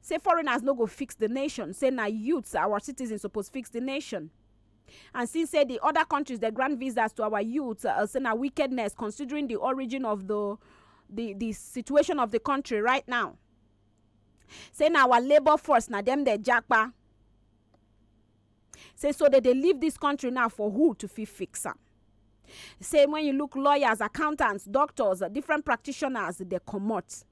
Say foreigners no go fix di nation, say na youths, our citizens suppose fix di nation. And since say di oda kontris dey grant visas to our youths, uh, say na wickedness considering di origin of di di di situation of di kontri right now. Say na our labour force na dem dey japa. Say so dem dey leave dis kontri now for who to fit fix am. Say wen you look lawyers, accountants, doctors, different practitioners dey comot.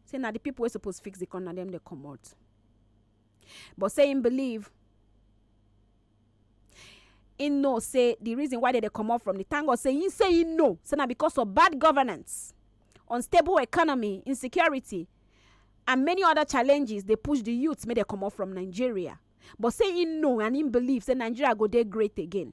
say na di pipo wey suppose fix di corner na dem dey comot but say im believe im know say di reason why dem dey comot from di thank god say im say im know say na because of bad governance unstable economy insecurity and many oda challenges dey push di youth make dem comot from nigeria but say im know and im believe say nigeria go dey great again.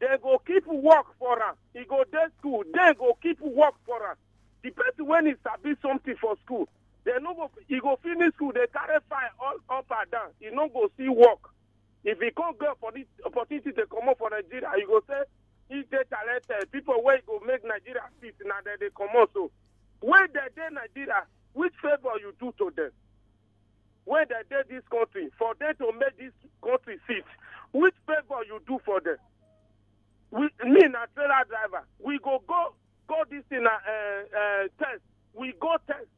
dem go keep work for am e go dey school dem go keep work for am the person wey e sabi something for school dem no go e go finish school dey carry file all up and down e no go see work if e come get opportu- opportunity to comot for nigeria you go say e dey talented people wey go make nigeria fit na dem dey comot so wey dem dey nigeria which favour you do to dem wey dem dey dis country for dem to make dis country sit which favour you do for dem we me na trailer driver we go go go dis thing na uh, uh, test we go test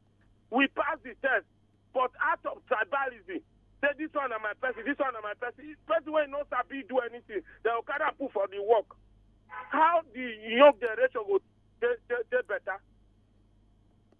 we pass the test but out of tribalism say this one na my person this one na my person If person wey no sabi do anything dem go carry am put for the work how the young generation go dey dey dey better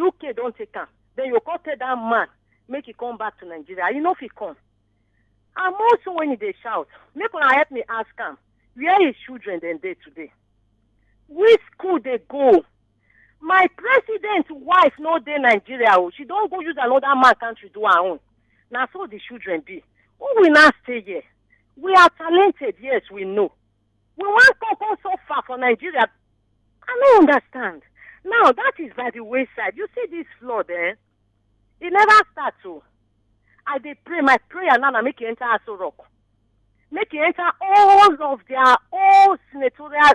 uk don take am then you come tell that man make he come back to nigeria he no fit come and most when he dey shout make una help me ask am where his children dem dey today which school dey go my president wife no dey nigeria o she don go use another man country do her own na so the children be who will now stay here we are talented yes we know We wan come come so far for Nigeria. I no understand. Now that is by the wayside. You see this flood, eh? It never start o. I dey pray my prayer now na make e enter Aso Rock. Make e enter all of their old senatorial